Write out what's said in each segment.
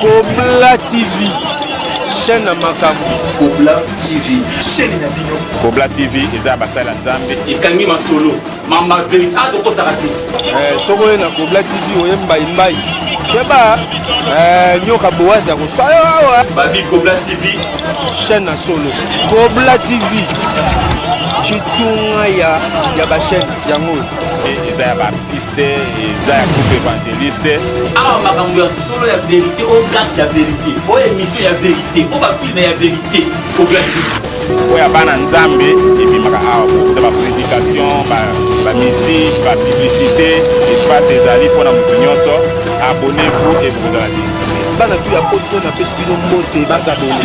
Kobla TV, chaîne na makambo. Kobla TV, chaîne na bino. Kobla TV eza basala Nzambe. Ekangi masolo, mama veri, ah tokosaka te. Eh, soko oye na Kobla TV oye mbai mbai. Keba, eh, nyoka boazi akoswa yo awa. Babi Kobla TV, chaîne na solo. Kobla TV, chitunga ya ya ba chaîne yango. Eza ya ba artiste. te eza ya groupe evangeliste awa makambo ya solo ya verité o garde ya verité o émission ya verité o bafilme ya verité oglati oyo ya bana nzambe ebimaka awa kokuta baprédication bamusike bapublicité espace ezali mpo na moto nyonso abonnez-vous et bokozala desi bana tu ya poto napesi bino mbote bazabone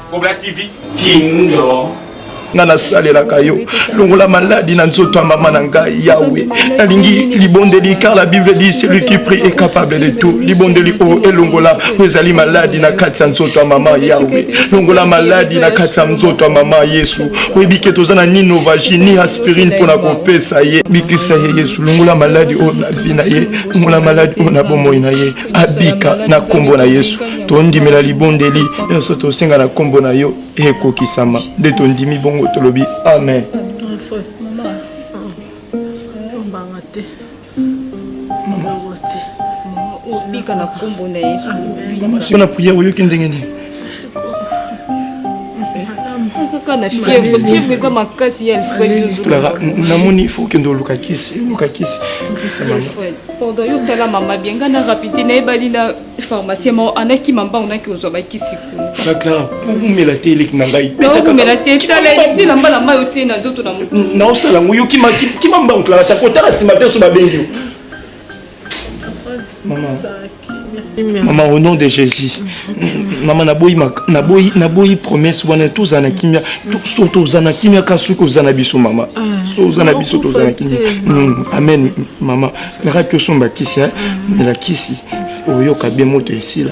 Cobra TV Kingdom nga nasalelaka yo longola maladi na nzoto ya mama na ngai yawe nalingi libondeli car la bible dit celui qui prie est capable de tout libondeli oyo oh, elongola oyo ezali maladi na kati ya nzoto ya mama yawe longola maladi na kati ya nzoto ya mama yesu oyebi ke toza na ni novagi ni aspirine mpo na kopesa ye bikisa ye yesu longola maladi oyo oh, na vi na ye longola maladi oyo oh, na bomoi na ye abika na nkombo na yesu tondimela libondeli nyonso tosenga na nkombo na yo ekokisama nde tondimi bongo tolobi amen mpo na priere oyoki ndenge nini clara namoni ifo okende oluka kisi oluka kisi pardon yo tala mama bien ngai na rapide nayebali na pharmacien mao anakima mbango naki ozwa bakisi kuna clara omela te eleki na ngai omela te tala eleki na mbala mai otie na nzoto na moto naosala yango yo kima mbango clara takotala nsima te so babengi yo mama mama au nom de jésus mama naboyi naboyi naboyi promesse wana tozala na kimia so toza na kimia ka soki oza na biso mama ah, so oza na biso toza na kimia hmm, amen mama elakaki osomba kisi mela kisi oyoka bien moto esila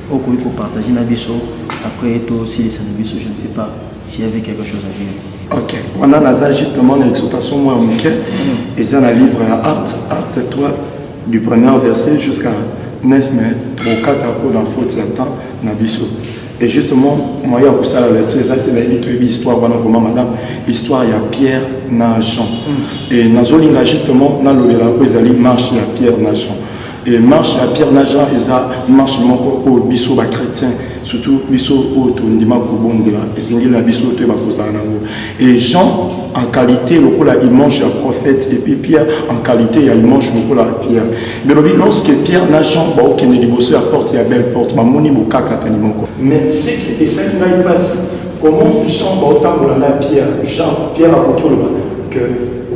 Okoki ko partager na biso après to silisa na biso je ne sais pas s'il y avait quelque chose à dire. Ok, wana naza justement na exhortation mwa moke eza na livre ya art art 3 du premier verset jusqu'à 9 mai tokokata mpona faute ya temps na biso et justement moyen ya kosala lati eza te nayebi toyebi histoire wana vraiment madame histoire ya pierre na jean et nazolinga justement nalobela oyo ezali marche ya pierre na jean Et marche ya Pierre na Jean eza marche moko oyo biso ba chrétiens surtout biso oyo tondima kobondela esengeli na biso toyeba kozala nango et Jean en qualité lokola image ya prophète et puis Pierre en qualité ya image lokola Pierre belobi lorsque Pierre na Jean baokende liboso ya porte ya belle porte bamoni bokakatani moko mais ce qui esali ngai mpasi comment Jean baotambola na Pierre Jean Pierre akoki oloba que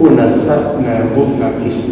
oyo naza na yango na pesi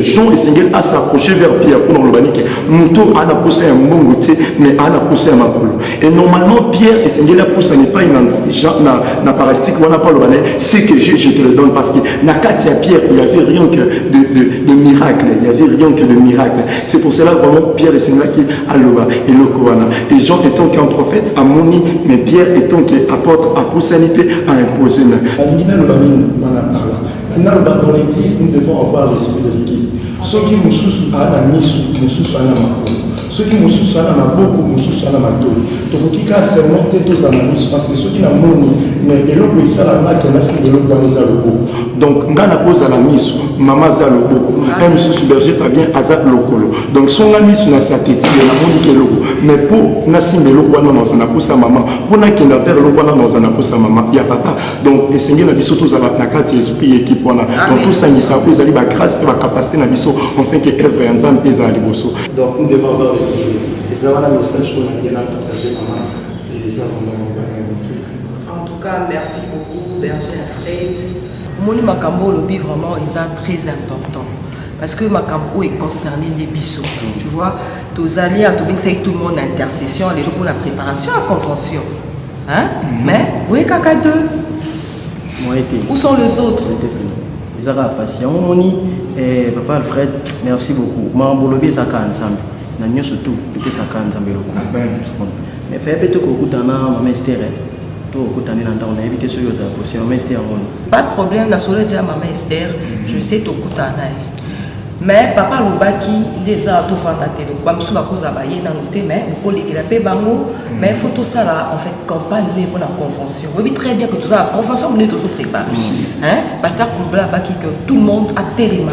jean esengeli a s'approcher vers pierre mpona koloba nike moto ana posa ya mbongo te mais ana posa ya makolo et normalement pierre esengeli apusana epai na, na, na paralytique wana mpo aloba na ye ce que je, je te le donne parce que na kati ya pierre il y avait rien que de, de, de miracle il y avait rien que de miracle c'est pour cela vraiment pierre esengelaki aloba eloko wana et jean étant qu'un prophète amoni mais pierre étant que apôtre apusani mpe a impose na alingi naloba nini wana parla Nanu ba dans l'église nous devons avoir l'esprit de l'église. Soki mosusu ana misu, mosusu ana makolo. Soki mosusu ana maboko, mosusu ana matoi. Tokoki kaka seulement te tozala na misu parce que soki na moni mais eloko esala nga ke nasi eloko wana eza loboko. Donc nga nakozala misu, mama aza loboko. Un mosusu berger Fabien aza lokolo. Donc songa misu na sateti ya na moni ke eloko. Mais po nasimba eloko wana naza na kosa mama, po nakenda vers eloko wana naza na kosa mama ya papa. donc esengeli na biso tozala na kati ya esprit ya ekipe wana donc tosangisa oyo ezali bagrâce mpe bacapacité na biso enfin ke œuvre ya nzambe mpe ezala liboso donc nous devons avoir les jours eza wana message oyo nalingi na partage mama eza vraiment en tout cas merci beaucoup berger afraid omoni makambo oyo olobi vraiment eza très important parce que makambo oyo econcerne nde biso tu vois tozali ya tobingisaki tout le monde na intercession lelo mpona préparation ya convention Hein? Mhm. Mais, vous êtes caca deux. Moi, Où sont les autres? eza kaka mpasi yango omoni eh, papa alfred merci beaucoup makambo olobi eza kaka nzambe na nyonso tu topesa kaka nzambe lokumu mais faya mpe tokokutana na mama estere eh. tokokutani na ndako nayebi te soki ozala kosi mama estere yango pas de problème na solo eja mama estere je sais tokutana na ye Mais papa alobaki nde eza na tofanda te donc bamosusu bakozala baye nano te mais okolekela mpe bango mm. mais faut tosala en fait campagne nde mpona convention oyebi très bien que tozala convention nde tozo prépare mm. basa kulbla abaki que tout le monde atelema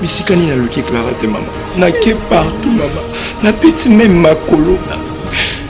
bisika nini naluki clara te mama nake partout mama napeti meme makolo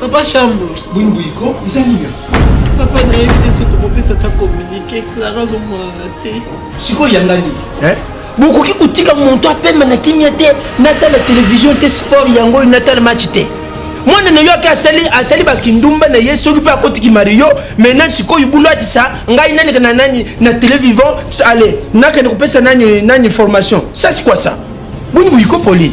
Papa Shambo. Boni boyiko eza nini? Papa nayebi te soki tokopesa ata communique Clara azomonana te. Sikoyo yanga nini? Eh? bokoki kotika moto apema na kimia te natala televizio te sport yango oyo natala match te mwana na yo ake asali asali bakindumba na ye soki mpe akotiki mario maintenant sikoyo bulu atisa ngai naleka na nani na tele vivant ale nakende kopesa nani nani formation sasi kwasa boni boyikopoli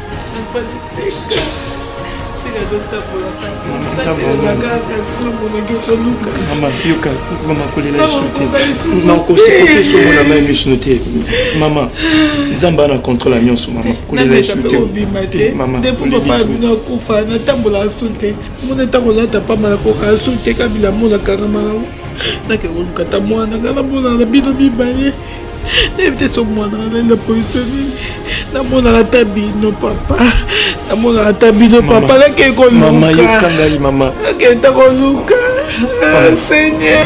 nakosekotesomonga mai misno te mama nzambe ana contrôle ya nyonso mama kolela yesu te mama nakufa natambola asu te mona ntango lata pamba nakoka asu te kabila mona kangama nango nakekoluka ta mwana ngai namona na bino mibale nayebi te soki mwana na ngai na position nini namonaka ata bino papa namonaka ata bino papa nakei kolukakei ta koluka ah, seigneur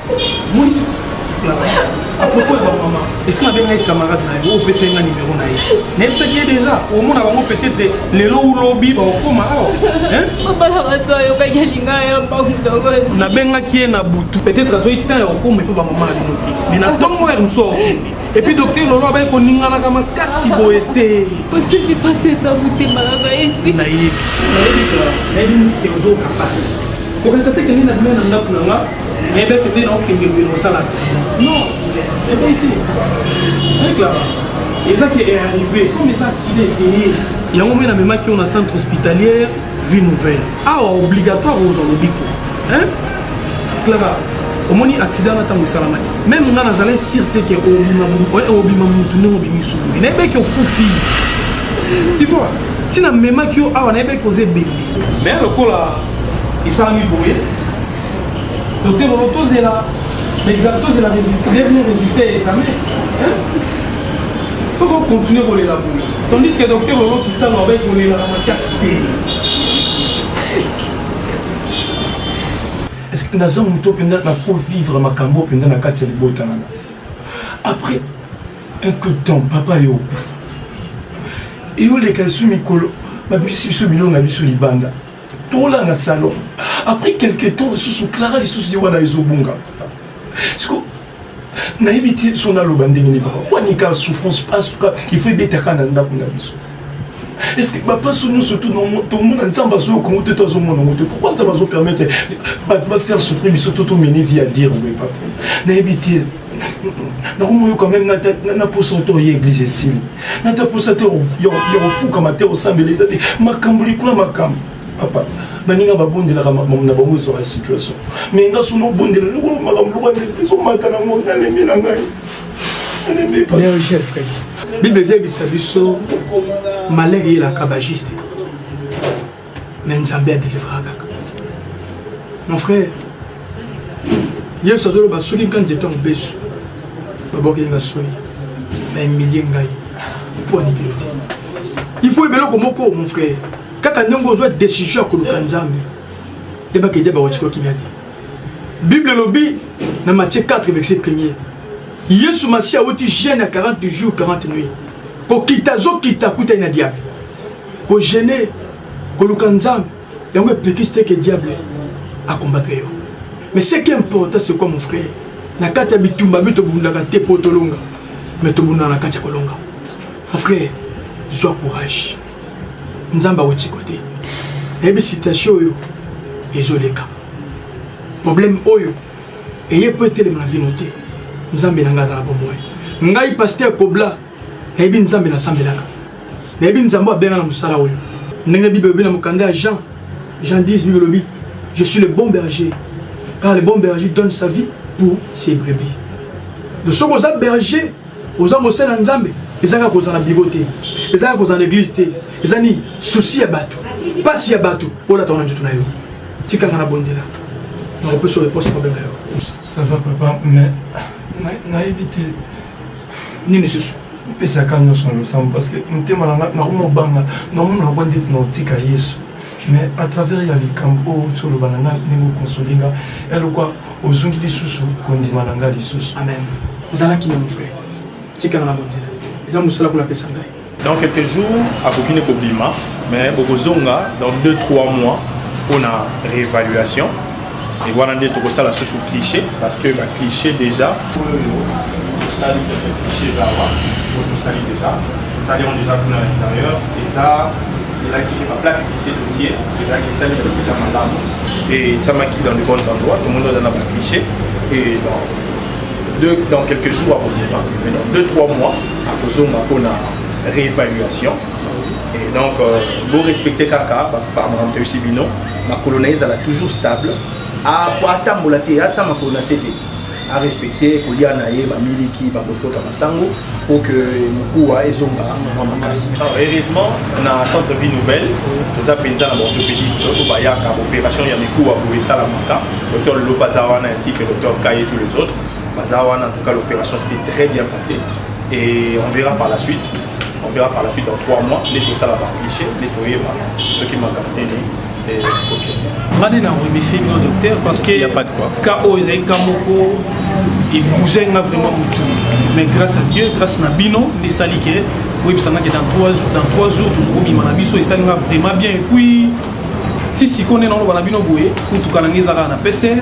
apropos ya bamama esi nabengaki camarade na ye opesaki nga nimero na ye nayebisaki ye deja omona bango peut-être lelo ulobi bakokoma awa nabengaki ye na butu peut-être azwaki temps ya kokoma epo bamama na bino te mais na ntongo ya mosu akokende epuis docteur lolo abaki koninganaka makasi boye te osebi pasi eza motema na ngai te nayebi nayebi te ozoka pasi okasa te kende na bino na ndako na nga Ebe eh tobe na okende boye na osala accident. Non, ebe eh te. Regarde, eza ke est arrivé, comme eza accident epeye. Yango mpe namemaki yo na centre hospitalière vie nouvelle. Awa obligatoire ozwa lobiko. Hein? Clara, omoni accident na ntango esalamaki. Meme nga nazalai sur te ke obima obima motu ndenge obimi sukuli. Nayebi eke okufi. Tu vois? Tina memaki yo awa nayebi eke oza ebembe. Mais lokola esalami boye Docteur Bobo, tozela l'examen, tozela résultat, dernier résultat ya examen. Faut qu'on continue kolela boye. Tandis que docteur Bobo Kisalo abai kolela na makasi te. Est-ce que naza moto mpenza na ko vivre makambo mpenza na kati ya libota nanga après un coup de temps papa ye okufa eyoleka esu mikolo babimisi biso bilonga biso libanda tola na salon après quelque temps lisusu clara lisusu ye wana ezobunga siko nayebi te so naloba ndenge nini papa wanika souffrance pasuka ifo ebetaka na ndako na biso estce bapaso nyonso tomona nzambe azoyo kongo te to azomona yango te pourkui nzambe azopermettre bato bafaire souffrir biso to tomene vie ya dire boye papa nayebi te nakomoyoka meme na poso to oye eglise esili nata poso te ya kofukama te osambela eza te makambo likolo ya makambo papa baninga babondelaka na bango ezwaka situation mai nga suna obondela lokolo makambo lokwa ezomata na ngo nalembi na ngai bible ezayebisa biso malere eyelaka bajuste mais nzambe adelivra kaka mon frère yesu azoloba soki nka nzete ya mobesu babokeli nga soyi na emilie ngai mpo anikilo te il faut ebeloko moko mon frère kaka ndenge ozwa décision ya koluka nzambe yebaka ede bakotikwa kimia te bible elobi na matie 4 verset premier yesu masiya awuti jeune ya 40 jours 40 nuit kokita azokita akutani na diable ko gêner koluka nzambe yango epekisi te ke diable akombatre yo mais ce qui est important c'est quoi mon frère na kati ya bitumba bi tobundaka te mpo tolonga mais tobundaka na kati ya kolonga mon frère zwa courage nzambe akotika te nayebi situation oyo ezoleka problème oyo eye mpo etelema na vino te nzambe na ngai aza na bomoi ngai paster kobla nayebi nzambe nasambelaka nayebi nzambe abenga na mosala oyo ndenge bible elobi na mokanda ya jean jean 10 bible elobi je suis le bon berger car le bon berger donne sa vie pour ses brebis donc soki oza berger oza mosala ya nzambe eza kaka kozala na biro te eza kaka kozala na eglise te eza nini susi ya bato mpasi ya bato olataka na nzoto na yo tikanga na bondela nakopesa oyo eposa mabenga yo ça va papa mais nayebi te nini susu epesaka nyonso na losambo parce que motema na ngai nakoma obanga namona nakwa ndeti na otika yesu mais à travers ya likambo oyo ti oloba na ngai ndenge okonsoli ngai elokwa ozongi lisusu kondima na ngai lisusu amen zalaki na mofre tikala na bondela eza mosala kuna apesa ngai dans quelques jours akoki ne kobima mais bokozonga dans 2 3 mois mpona réévaluation e wana nde tokosala susu cliché parce que ba cliché déjà oyo tosali keke cliché eza awa oyo tosali déjà totali yango déjà kuna na intérieur eza elakisi ke baplate cliché totie ezalaki etiami na bisika malamu e etiamaki dans de bonnes endroits tomoni oza na ba cliché e dans, dans quelques jours akobima mais dans 2 3 mois akozonga mpo na réévaluation et donc euh, bo respecter kaka baparlementaire osi bino makolo na ye ezala toujours stable atambola te atia makolo na se te arespecte kolia na ye bamiliki bakokota masango pour que mokuwa ezonga mwa makasi heureusement na centre vie nouvelle toza mpenza na baorthopédiste oyo bayaka baopération ya mikuwa boye esalamaka docteur lolopa aza wana ainsi que docteur kaye tous les autres baza wana en tout cas l'opération c'était très bien Et on verra par la suite. On verra par la suite dans trois mois. Les tout ça va cliché, les tout ce qui m'a capté. ngani na remercie bino docteur parce que ka oyo ezali ka moko ebouge nga vraiment motu mais grâce à dieu grâce na bino nde esali ke boyebisangaki dans 3 jours dans 3 jours tozokobima na biso esali nga vraiment bien epuis ti sikoyo nde naoloba na bino boye kutuka na ngai ezalaka na pcr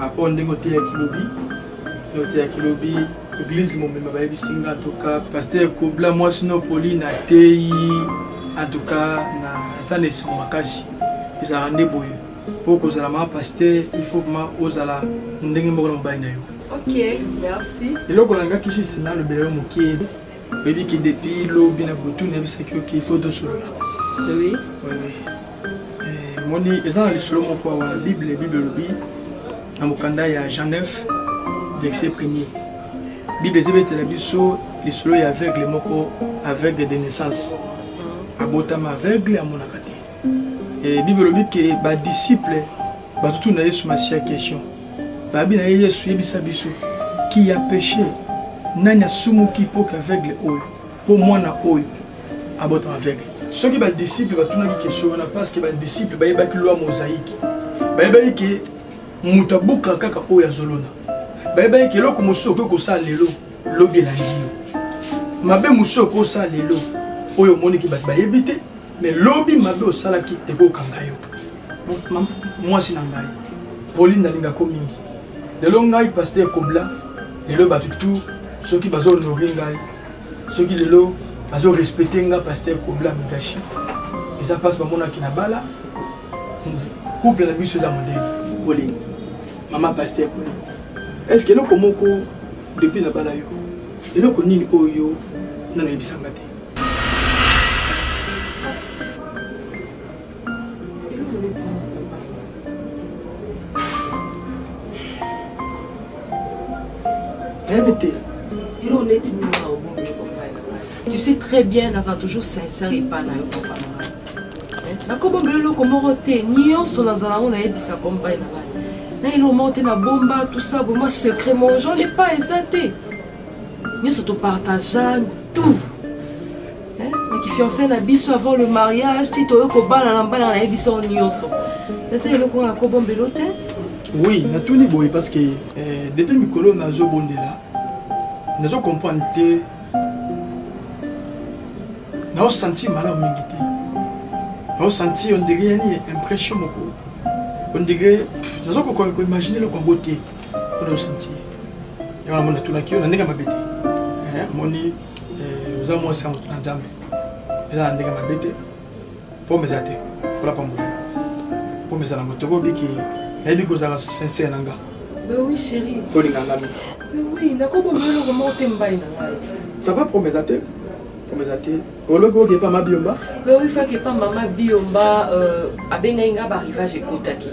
rapport hmm, ndenge oteyaki lobi oteyaki lobi eglise momema bayebisi nga antuka paster kobla mwasi no poli na teyi antuka naza na esengo makasi ezalaka nde boye mpo kozala mama paster il faut ma ozala ndenge moko na mobali na yo ok merci eloko nangaki juste nalobela yo moke oyebi ke depuis lobi na butu nayebisaki yo ke il faut tosolola oui. oui. omoni eza na lisolo moko awa na bible bible elobi na mokanda ya jean 9 verset premier bible ezebetela biso lisolo ya aveugle moko aveugle de naissance abotama aveugle amonaka te e, bible elobi ke badisiple batutuna yesu masiya question babi na ye yesu yebisa biso ki ya peche nani asumuki mpo ke aveugle oyo Mpo mwana oyo abotama aveugle. Soki badisiple batunaki kestion wana parceke badisiple bayebaki lwa mozaiki, bayebaki ke moto abukaka kaka oyo azolona, bayebaki ke eloko mosusu okoki kosala lelo lobi elandi yo, mabe mosusu okoki kosala lelo oyo omoni ke bato bayebi te, me lobi mabe osalaki ekokanga yo. Mwasi na ngai Pauline nalingako mingi, lelo ngai paster ekobla, lelo bato tu soki bazo honore ngai soki lelo bazo respecte nga pasteur kobla mikashi eza mpasi bamonaki na bala couple na biso eza modele polini mama pasteur polini est ce que eloko moko depuis na bala yo eloko nini oyo nanoyebisanga te Tu sais très bien, Nava toujours sincère et pas naïf, papa. nakobomba eloko moko te nyonso nazala yango nayebisa kombai na bana na eloko moko te nabomba tusa boma secret mon genre epa eza te nyonso topartagea tout fiancé na biso avant le mariage ti toye kobalana mbalana na ye biso nyonso eza eloko oyo nakobombelo te oui natuni boye parce que eh, depuis mikolo nazobondela nazo comprendre te naosanti malamu mingi te naosanti ondegre yani impression moko ondegre nazo kokoka koimagine eloko yango te mpo naosanti yango namona tunaki yo na ndenge mabe te eh, moni Eh, oza mwasi ya moto na nzambe eza na ndenge mabe te pome eza te kolapa mbula pome eza na moto okobiki nayebi kozala sincere na nga tolinga nga ça va pome eza te pome eza te olobi oke epa mabiomba oifaki epa mama biomba euh, abengaki nga barivage ekotaki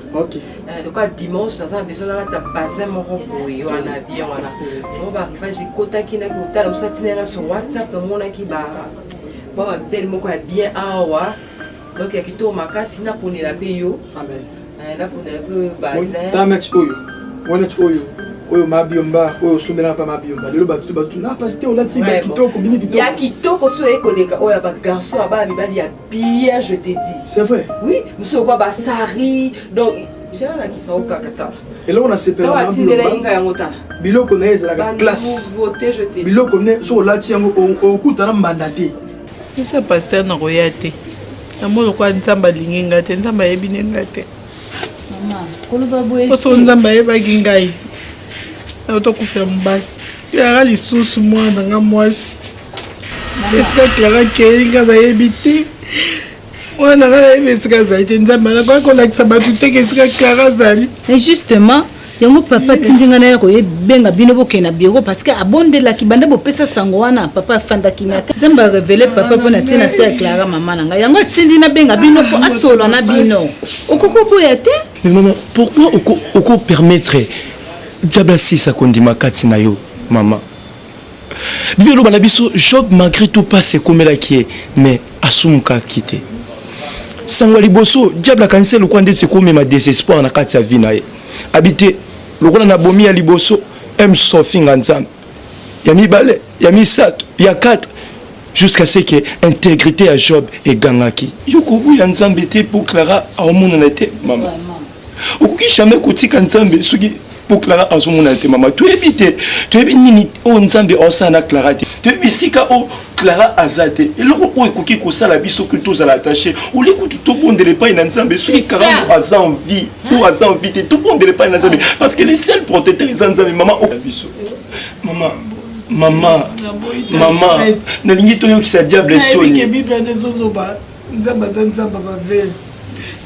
Eh, lokola dimanche naza na besoin nalata basin moko boye wana bien wana yango barivage ekotaki naki kotala mosu atina yana sur whatsapp namonaki ba mwa babitele moko ya bien awa donc ya kitoko makasi naponela mpe yo eh, naponela mpe oyo basintamati oyo wanati oyo oyo mabiomba oyo osombelaka mpa mabiomba lelo bato bato na pasi te olati kitoko bini kitoko ya kitoko so ekoleka oyo ya bagarçon ya bana mibali ya Pierre, je t'ai dit. C'est vrai. Oui, monsieur quoi ba sari. Donc j'ai la qui ça au kakata. Et là on a séparé. Toi tu n'es là inga yango ta. Biloko na eza la classe. Voter je t'ai. Biloko ne so la ti yango au kuta na mbanda te. C'est ça pasteur na roya te. Na mo lokwa nzamba lingi nga te, nzamba yebi ne nga te. Maman, koloba boye. Ko so nzamba yeba ki ngai. Na to kufia mbali. Ya lisusu mwana nga mwasi. esika clara akei nga nayebi te wana nga nayebi esika azali te nzambe anakoki kolakisa bato teke esika clara azali e justement yango papa atindi ngai naya koyebenga bino bokei na biro parce que abondelaki banda bopesa sango wana papa afandaki me ata nzambe arevele papa mpo na ntina na se ya clara mama na ngai yango atindi nabenga bino mpo asolola na bino okoki oboya te mais mama pourquoi okopermettre diable asisa kondima kati na yo mama biblia eloba na biso job malgré tout mpasi ekomelaki ye mais asumukaki te sango ya liboso diable akanisi ye lokola ndeti ekomema desespoir na kati ya vi na ye abi te lokola na bomi ya liboso emso ofinga nzambe ya mibale ya misato ya 4 jusqu'à ce que intégrité ya job egangaki yo koboya nzambe te mpo clara aomonana te mama okoki jamais kotika nzambe soki mpo clara azomona te mama toyebi te toyebi nini oyo nzambe aosala na clara te toyebi esika oyo clara aza te eloko oyo ekoki kosala biso kutu tozala attaché olie kutu tobondela epai na nzambe soki karango aza envie oyo aza envie te tobondela epai na nzambe parce que le seul protecteur eza nzambe mama oyo biso mama mama mama nalingi toyokisa diable soni Nzambe aza nzambe ya ba veuve.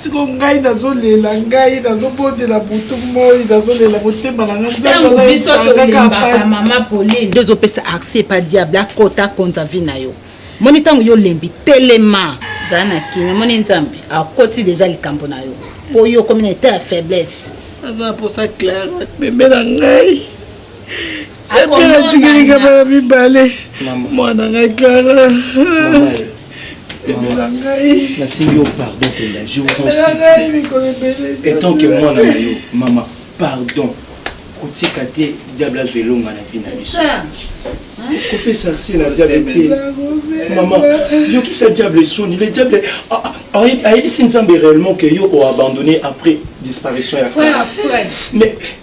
Siko ngai nazolela ngai nazobondela butu moi nazolela motema na ngai nzambe ntango biso azalaka tolembaka mpasi. mama pauline nde ozopesa accès epa diable akota akonza vi na yo moni ntango yo olembi telema zala na kimia moni nzambe akoti deja likambo na yo mpo yo okomi na etat ya faiblesse Naza na posa Clara bebe na ngai. epe natikelika bana mibale mwana ngai clara ebela ngai nasengi yo pardon penda je vous en ngai mikolo ebele etant que mwana na yo mama pardon kotika te diable azwa elonga na vi na biso kopesa se na diable te mama yokisa diable soni le diable ayebisi nzambe réellement que yo oabandonné après disparition ya mais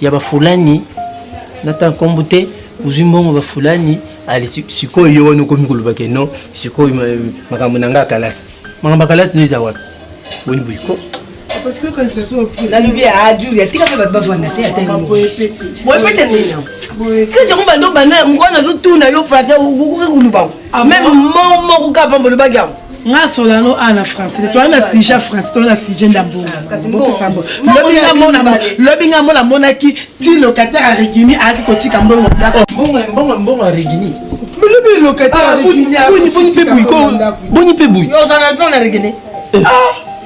ya bafulani nata nkombo te ozwi mbongo bafulani ali sikoyo yo wana okomi koloba ke non sikoyo makambo na ngai akalasi makambo akalasi no eza wapi boni boliko nalobi ajulia tika mpe bato bavanda te boyepete nini yango banda mokwana nazotuna yo français okoki kolubango Ah, meme moko moko kaka pamba olobaki yango nga solano a na français toa na sujet français toa na sujet ndambongaopesambo lobi nga mona amonaki ti locataire ya regini ayaki kotika mbongo ndako mbongo ya regini lobi locataire ya regini boni mpe bui boni mpe bui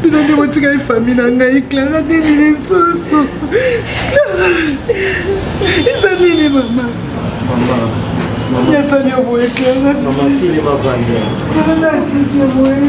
bino nde botikali fami na ngai clara nini lisusu eza nini mama nasali yo boye clara boye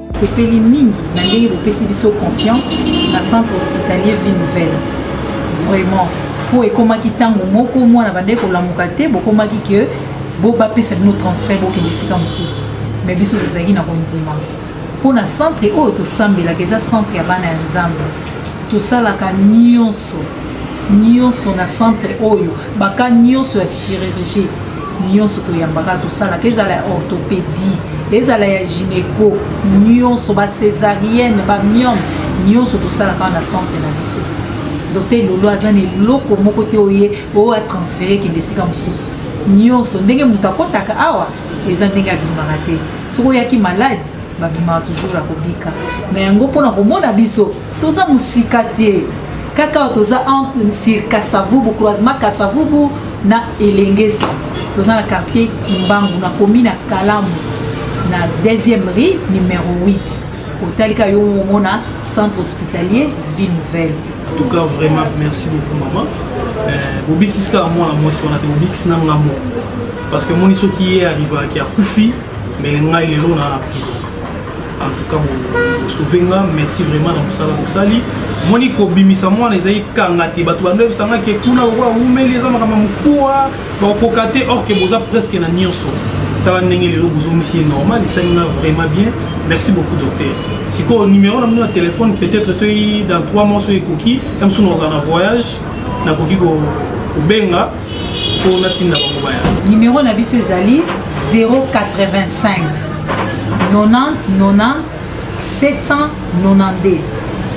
Sepeli mingi na ndenge bopesi biso confiance na centre hospitalier vie nouvelle vraiment mpo ekomaki ntango moko mwana bandaki kolamuka te bokomaki ke bo bapesa bino transfert bokende esika mosusu mais biso tozalaki na kondima mpo na centre oyo tosambelaka eza centre ya bana ya nzambe tosalaka nyonso nyonso na centre oyo baka nyonso ya chirurgie nyonso toyambaka tosalaka ezala ya orthopédie ezala ya gynéco nyonso ba césarienne ba miome nyonso tosalaka na centre na biso docteur lolo aza na eloko moko te oye oyo atransfere kende esika mosusu nyonso ndenge moto akotaka awa eza ndenge abimaka te soki oyaki malade babimaka toujours ya kobika na yango mpona komona biso toza mosika te kaka toza sur kasavubu croisement kasavubu na elengesa toza na quartier kimbangu na commune ya kalamu na deuxième rue numero 8 otalika yo omona centre hospitalier ville nouvelle en tout cas vraiment merci beaucoup maman euh, bobikisi kaka mwana mwasi wana te bobikisi na nga moko parce que moni soki ye arrivaki akufi mais ngai lelo na na prison en tout cas vous sauvez nga merci vraiment na musala bosali moni kobimisa mwana ezali kanga te bato bandebisanga ke kuna lokola wumeli eza makambo mokuwa bakokoka te or ke boza presque na nyonso tala ndenge lelo bozongisi ye normal esali nga vraiment bien merci beaucoup docteur sikoyo numero na bino ya telefone peut-être soki dans 3 mois soki ekoki ya mosusu nazala na voyage nakoki kobenga mpo natinda bango baya nimero na biso ezali 085 90 90 792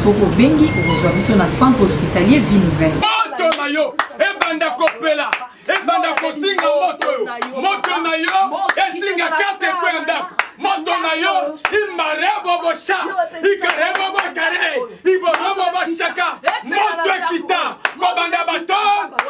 soki obengi okozwa biso na centre hospitalier ville 20 moto na yo ebanda kopela ebanda kozinga moto oyo moto na yo ezinga karte ekweya ndako moto na yo imarebobosa ikarebobokaree ibonobo bashaka moto ekita kobanda bato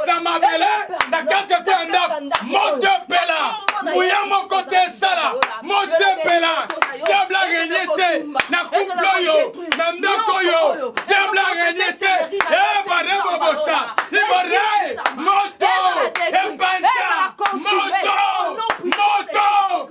na mabele na kati ya kwa ndako moto epela nguya moko te esala moto epela diable arenye te na couple oyo na ndako oyo diable arenye te ebarebobosha ibore moto ebanja moto moto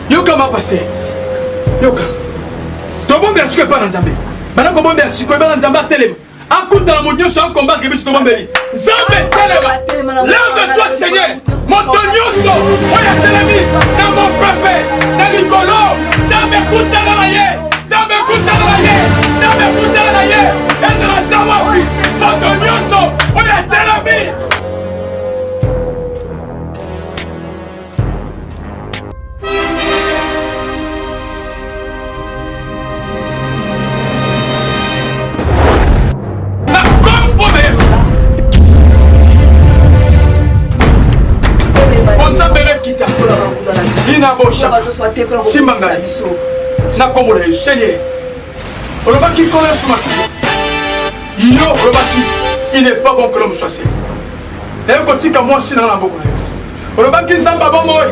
yoka ma paster yoka tobombela sikoyo epai na nzambe bana kobombela sikoyo epai na nzambe atelema akutana moto nyonso akombake biso tobombeli nzambe telema leve toi seigneur moto nyonso oyo atelemi na mopepe na likolo nzambe kutana na ye nzambe kutana na ye nzambe kutana na ye ezala za wapi moto nyonso oyo atelemi simba ngai na nkombo na yesu seigneur olobaki nkolo yesu masiku yo olobaki il n'est pas bon que l'homme soit seul naye kotika mwasi nanga na boko na yo olobaki nzambe abomoi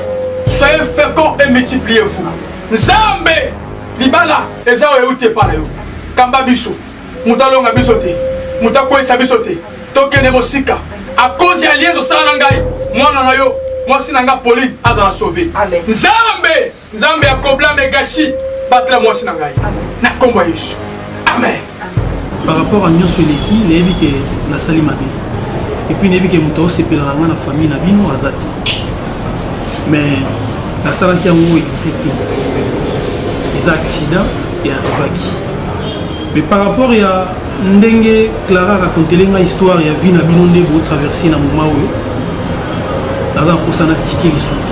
soyez fecond et multipliez vous nzambe libala eza oyo euti epai na yo kamba biso moto alonga biso te moto akweyisa biso te tokende mosika akozi ya lienzo osala na ngai mwana na yo mwasi na ngai pauline azala sauve nzambe nzambe ya kobla megashi batela mwasi na ngai na nkombo ya yesu amen par rapport a nyonso eleki nayebi ke nasali mabe epuis nayebi ke moto aosepela na ngai na famille na bino aza te mais nasalaki yango exprès te eza accident e arrivaki mais par rapport ya ndenge clara racontele ngai histoire ya vie na bino nde botraverse na moma oyo naza na mposa na tike lisusu